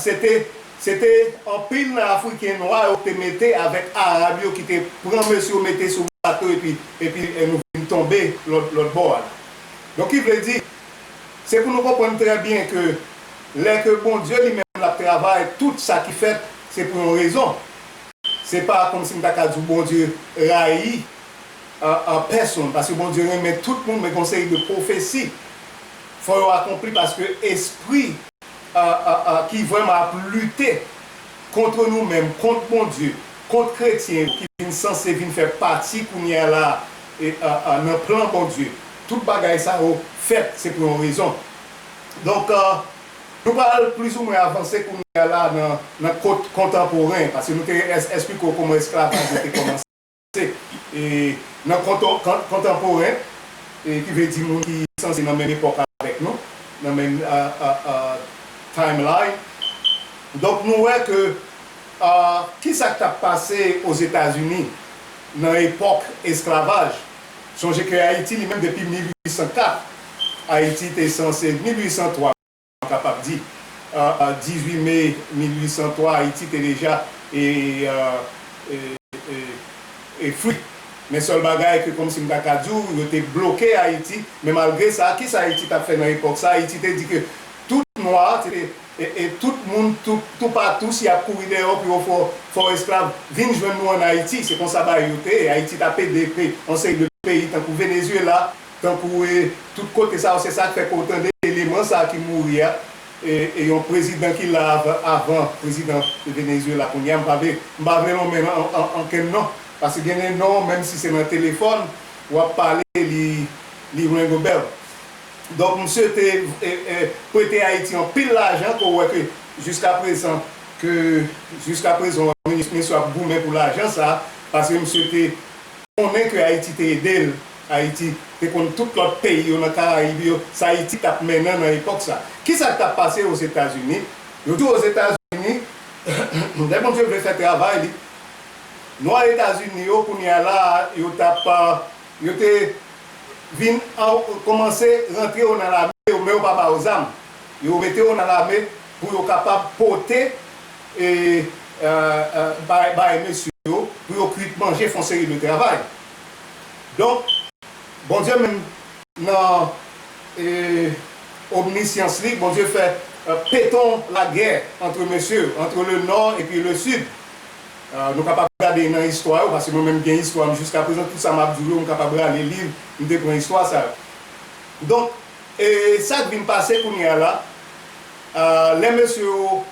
Se te Se te anpil nan Afriken nwa yo te mete avèk Arab yo ki te pran mesye yo mete sou bato epi epi nou vin tonbe lòt lòt bò a la. Donk ki vle di, se pou nou konprann trè byen ke lè ke Bondye li menm l ap travay, tout sa ki fèt se pou yon rezon. Se pa kòmsi m ta ka di w Bondye rayi pèsonn, paske Bondye renmen tout moun men gen yon seri de pwofesi fò yo akonpli paske espri. ki vrèman ap lite kontre nou menm, kont Bondye, kont kretyen yo ki vin sanse vin fè pati kounye a la a nan plan Bondye. Tout bagay sa yo fèt, se pou yon rezon. Donk, nou pral plizoumwen avanse kounye a la a nan kontanporen, paske nou te esplike w kouman esklavaj yo te kòmanse. Se nan kontanporen, ki vle di moun ki sanse nan menm epòk avèk nou, nan menm timeline. Donk nou wè ke ki sa k t ap pase Ozetazini nan epòk esklavaj. Sonje ke Ayiti li menm depi 1804, Ayiti te sanse, 1803. Nou kapab di, 18 me 1803, Ayiti te deja e fri. Men sèl bagay ke kòmsi m ta ka di w, yo te bloke Ayiti. Men malgre sa, ki sa Ayiti t ap fè nan epòk sa? Ayiti te di ke tout nwa, e tout moun toupatou, si y ap kouri dèyè w pou yo fè w esklav, vin jwenn nou ann Ayiti. Se konsa bagay yo te ye. Ayiti t ap ede yon seri de peyi tankou Venezyela. Tankou e tout kote sa yo se sak fè ke w tande eleman sa ki mouri a e yon prezidan ki la avan prezidan Venezuela kounye a m pa vle m pa vle lonmen ankenn non paske gen de non menm si se nan telefòn w ap pale li li ring a bell donk msye te prete Ayiti anpil lajan ke w wè ke jiska prezan ke jiska prezan misye ap goumen pou lajan sa paske msye te konnen ke Ayiti te ede l Ayiti te konn tout lòt peyi yo nan Karayib yo, sa Ayiti t ap mennen nan epòk sa. Ki sa k t ap pase Ozetazini? Yo di w Ozetazini, lè Bondye vle fè travay li, nwa Etazini yo kounye a la a, yo t ap, yo te vin kòmanse rantre yo nan lame yo, men yo pa ba yo zam. Yo mete yo nan lame pou yo kapab pote bay mesye yo, pou yo kwit manje, fè yon seri de travay. Donk, Bondye menm nan omnisyans li, Bondye fè peton lagè antre mesye yo, antre le nò epi le sid. Nou kapab gade nan istwa yo, paske mwen menm m gen istwa m jiskaprezan, tout sa m ap di w yo m kapab rale liv m te pran istwa sa yo. Donk, sa k vin pase kounye a la, lè mesye yo.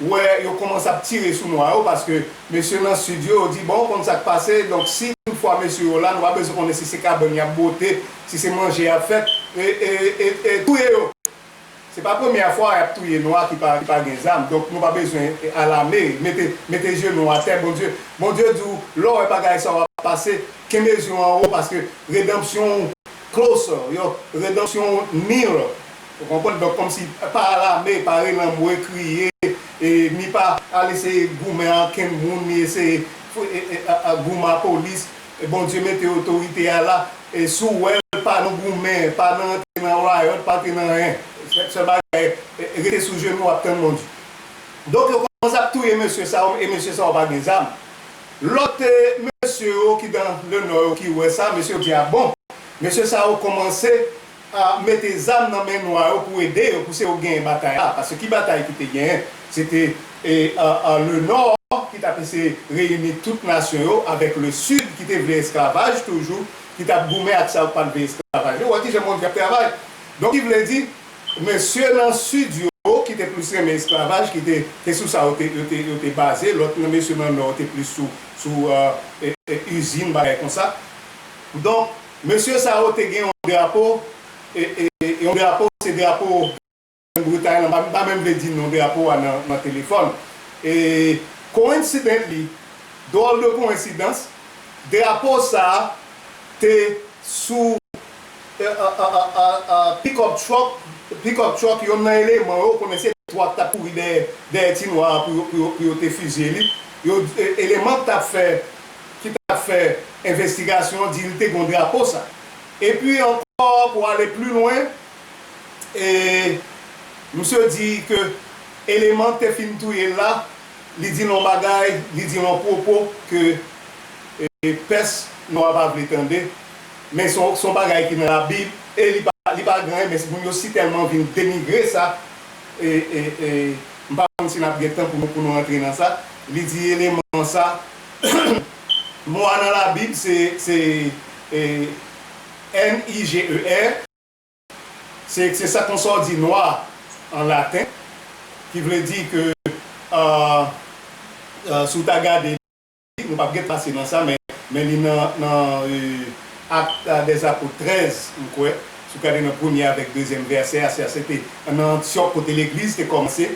wè yo komanse ap tire sou nwa yo paske mesye nan sid yo di bon ou konn sak pase donk si tout fwa mesye yo la nou pa bezwen konnen si se kabann yap bwote si se manje yap fè e touye yo se pa premyè fwa yap touye nwa ki pa gen zam donk nou pa bezwen alame mete je nou atè bondye bondye di w lè w wè bagay sa yo ap pase kenbe je w anwo paske redanpsyon w closer yo redanpsyon w nearer. Ou konprann? Donk kòmsi pa alame, pa relanmwe, kriye, e ni pa al eseye goumen a kenn moun, ni eseye goumen a polis. Bondye mete otorite a la. E si w wè l, pa nan goumen, pa nan antre nan riot, pa antre nan anyen. Sèl bagay, rete sou jenou w ap tann Bondye. Donk yo kòmanse ap touye mesye sa yo, e mesye sa yo pa gen zam. Lòt mesye yo ki dan le nò yo ki wè sa, mesye yo di a bon. Mesye sa yo kòmanse. mete zam nan men nwa yo pou ede yo pouse yo genyen batay la paske ki batay ki te genyen se te le nò ki tap eseye reyini tout nasyon yo avèk le sid ki te vle esklavaj toujou ki tap goumen ak sa yo ki pat vle esklavaj yo wè kijan bondye ap travay donk ki vle di mesye nan sid yo ki te plis renmen esklavaj ki te se sou sa yo te baze lòt mesye nan nò te plis sou izin bagay konsa donk. Mesye sa yo te gen yon drapo, yon drapo se drapo Grand Bretay lan, m pa menm vle di non drapo a nan telefòn. E coincidentally, dròl de koensidans, drapo sa te sou pickup truck, pickup truck yonn nan eleman yo, ou konnen se twa k t ap kouri dèyè ti nwa a pou yo te fizye li, eleman k t ap fè. ki t ap fè envestigasyon di li te gen yon drapo sa. Epi ankò pou ale pli lwen, misye di ke eleman k te fin touye l la, li di l yon bagay, li di l yon pwopo ke pès nò a pa vle tande, men se yon bagay ki nan labib e li pa gen anyen, men moun yo si tèlman vin denigre sa, m pa konn si n ap gen tan pou nou antre nan sa, li di eleman sa. Mo a nan Labib se n-i-g-e-r. Se sa konsa ou di nwa an laten, ki vle di ke si ou ta gade li, nou pap gen tan pase nan sa, men li nan Actes des Apôtres 13, m kwè, si ou gade nan premye avèk dezyèm vèsè a, se nan Antyòk kote legliz te kòmanse.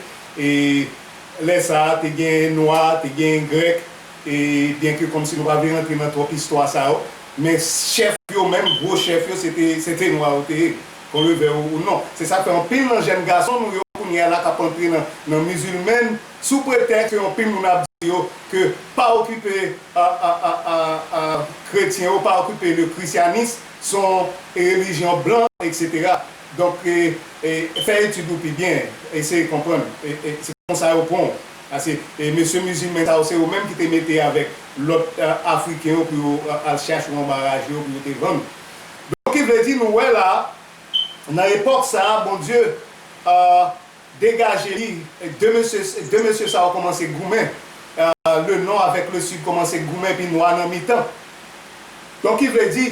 Lè sa a, te genyen Nwa, te genyen Grèk, e byenke kòmsi nou pa vle rantre nan twòp istwa sa yo, men chèf yo menm, gwo chèf yo, se te se te Nwa yo te ye, kon le vè ou non. Se sa k fè anpil nan jèn gason nou yo kounye a la k ap antre nan nan mizilmèn sou pretèks ke anpil moun ap di yo ke pa okipe a a a a a kretyen yo, pa okipe le christianisme, s on relijyon blan, eksetera. Donk, fè etid ou pi byen, eseye konprann. Se konsa yo pran w. Pase, mesye mizilmen sa yo, se yo menm ki te mete avèk lòt Afriken yo pou yo al chache w anba raje yo pou yo te vann ou. Donk, ki vle di, nou wè la a, nan epòk sa a, Bondye. Degaje li, 2 mesye 2 mesye sa yo kòmanse goumen, le Nò avèk le Sid kòmanse goumen epi Nwa nan mitan. Donk ki vle di,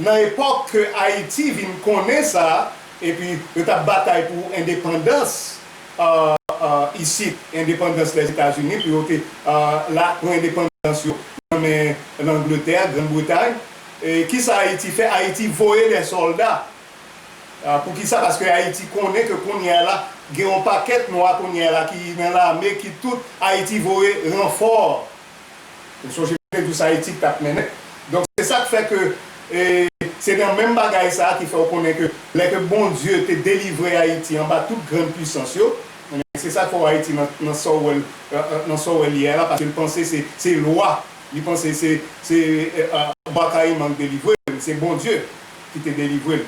nan epòk ke Ayiti vin konnen sa, epi yo t ap batay pou endepandans isit, endepandans Lèzetazini, pou yo te la, pran endepandans yo nan men Langletè, Grann Bretay, e kisa Ayiti fè? Ayiti voye dè sòlda. Pou kisa? Paske Ayiti konnen ke kounye a la gen yon pakèt nwa kounye a la ki nan lame ki tout Ayiti voye ranfò. Ou sonje te dous Ayiti tap mennen. Donk se sak fè ke se nan menm bagay sa ki fè ou konnen ke lè ke Bondye te delivre Ayiti anba tout grand pwisans yo, ebyen se sak fè ou Ayiti nan sa ou wèl nan sa ou wèl ye a la paske li panse se se lwa li panse se se Bwakayiman ki delivre li se Bondye. Ki te delivre l.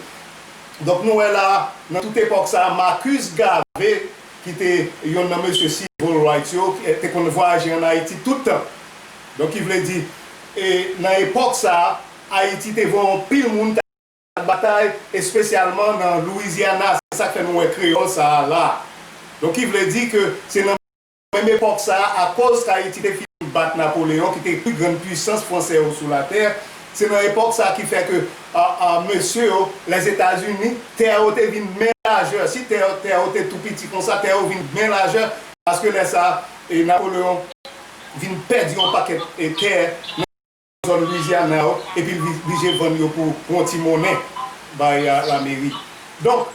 Donk nou wè la a, nan tout epòk sa a, Marcus Garvey, ki te yonn nan mesye Civil Rights yo, te konn vwayaje ann Ayiti tout tan. Donk ki vle di, e nan epòk sa a, Ayiti te vwa anpil moun t al batay, espesyalman nan Louisiana, se sa k fè nou wè kreyòl sa a la a. Donk ki vle di ke se nan. Menm epòk sa a, akoz Kayiti te fin bat Napoleyon ki te pi grann pwisans Franse yo sou latè, se nan epòk sa a ki fè ke mesye yo, Lèzetazini, tè yo te vin bmen lajè. Si tè tè yo te tou piti konsa, tè yo vin bmen lajè paske lè sa a Napoleyon vin pèdi yon pakèt tè nan. zòn Louisiana yo epi l blije vann yo pou yon ti monnen bay lameri. Donk,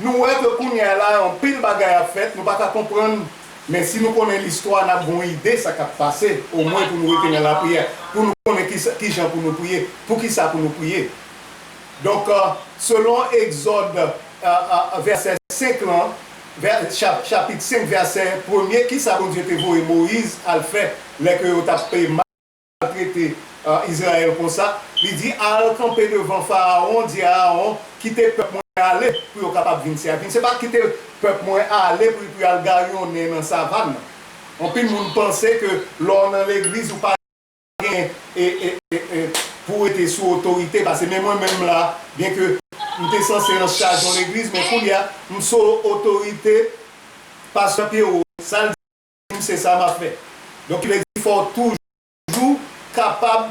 nou wè ke kounye a la anpil bagay ap fèt nou pa ka konprann men si nou konnen listwa n ap gen yon ide sa k ap pase omwen pou nou rete nan lapriyè pou nou konnen kijan pou nou priye, poukisa pou nou priye. Donk, selon Egzòd vèsè 5 lan, chapit 5 vèsè premye kisa Bondye te voye Moyiz al fè lè ke yo t ap. al trete Izrayèl konsa, li di, Al kanpe devan Farawon, di Arawon, Kite pèp mwen ale pou yo kapab vin sèvi m. Se pa kite pèp mwen ale pou y al garyonnen nan savann nan. Anpil moun panse ke lè w nan legliz ou pa gen pou w rete sou otorite pase men mwen menm la, byenke m te sanse anchaj yon legliz men koulye a m sou otorite Pastè Pierrot. Sa l di? Wi se sa map fè. Donk ki vle di fòw toujou kapab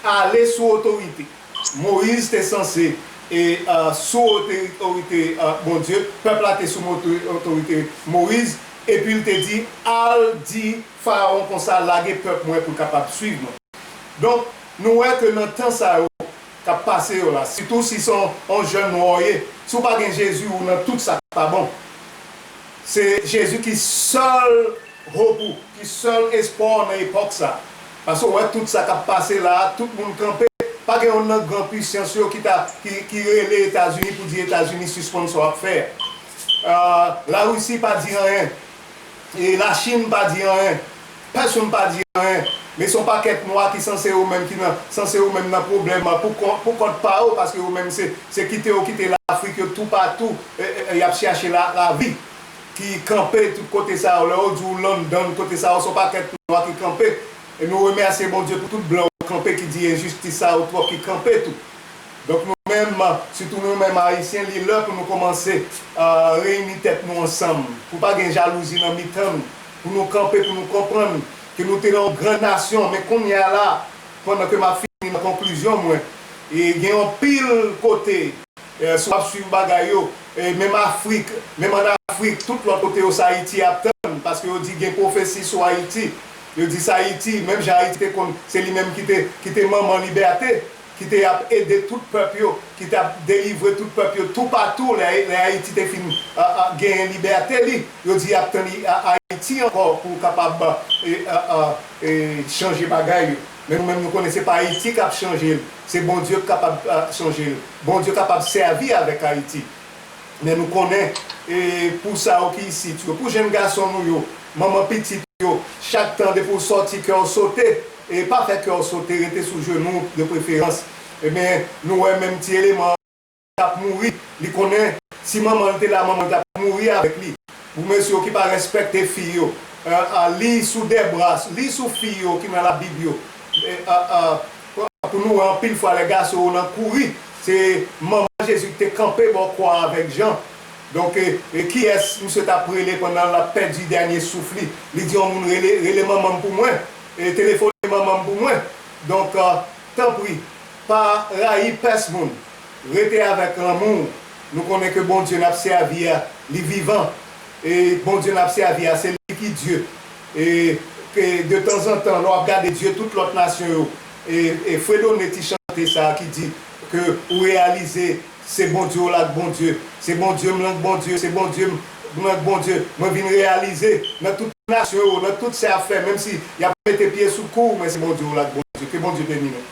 ale sou otorite. Moyiz te sanse e sou otorite Bondye, pèp la te sou otorite Moyiz, epil te di al di farawon konsa lage pèp mwen poul kapab swiv mwen. Donk nou wè ke nan tan sa yo kap pase yo la, sitou si se yon jèn nwa ou ye, si ou pa gen Jezi ou nan tout sak pa bon. Se Jezi ki sèl hope ou, ki sèl espwa w nan epòk sa. Paske w wè tout sa k ap pase la a, tout moun kanpe, pa gen youn nan gran puisans yo ki ta, ki, ki rele Etazini pou di Etazini sispann sa w ap fè a. Larisi pa di anyen. E Lachin pa di anyen. Pèsonn pa di anyen, men son pakèt nwa ki sanse yo menm ki nan sanse yo menm nan pwoblèm pou kont pou kont pa yo paske yo menm se se kite yo kite lafrik yo tou pa tou yap chache la lavi ki kanpe tout kote sa yo lè yo di w London kote sa yo son pakèt nwa ki kanpe e nou remèsye Bondye pou tout blan yo kanpe ki di enjistis sa yo twòp ki kanpe tou donk nou menm sitou nou menm ayisyen li lè pou nou kòmanse reyini tèt nou ansanm pou pa gen jalouzi nan mitan nou. Pou nou kanpe pou nou konprann ke nou te nan yon gran nasyon men kounye a la pandan ke map fini nan konklizyon mwen e gen yon pil kote si wap swiv bagay yo menm afrik menm an afrik tout lòt kote yo sa ayiti ap tann paske yo di gen pwofesi sou ayiti yo di sa ayiti menm jan ayiti te konn se li menm ki te manman libète ki te ap ede tout pèp yo, ki t ap delivre tout pèp yo toupatou lè Ayiti te fin genyen libète li, yo di y ap tann Ayiti ankò pou kapab chanje bagay yo. Men nou menm nou konnen se pa Ayiti k ap chanje l, se Bondye k kapab chanje l. Bondye kapab sèvi avèk Ayiti. Men nou konnen pou sa yo ki isit yo, pou jenn gason nou yo, manman pitit yo, chak tan depi w sòti kè w sote E pa fè kè w sote, rete sou jenou w de preferans. Ebyen, nou wè menm ti eleman an k ap mouri, li konnen si manman l te la, manman l t ap mouri avèk li. Pou mesye yo ki pa rèspèkte fi yo, li sou de bra, li sou fi yo ki nan Labib yo. Pou nou wè anpil fwa lè gason yo nan kouri, se manman Jezi ki te kanpe bò kwa a avèk Jan. Donk, kiyès misye t ap rele pandan l ap pèdi dènye souf li? Li di yon moun, Rele manman m pou mwen. Telefone manmanm pou mwen donk tanpri pa rayi pès moun rete avèk lanmouw nou konnen ke Bondye nap sèvi a li vivan e Bondye nap sèvi a se li ki Dye e ke de tanzantan lè wap gade Dye tout lòt nasyon yo e fredone ti chante sa ki di ke ou reyalize Se Bondye w la k Bondye Se Bondye m lan k Bondye Se Bondye m lan k Bondye Mwen vin reyalize Nan tout nasyon yo Nan tout sa y ap fè Menm si y ap mete pye sou kou w Men se Bondye w la k Bondye Ke Bondye beni nou.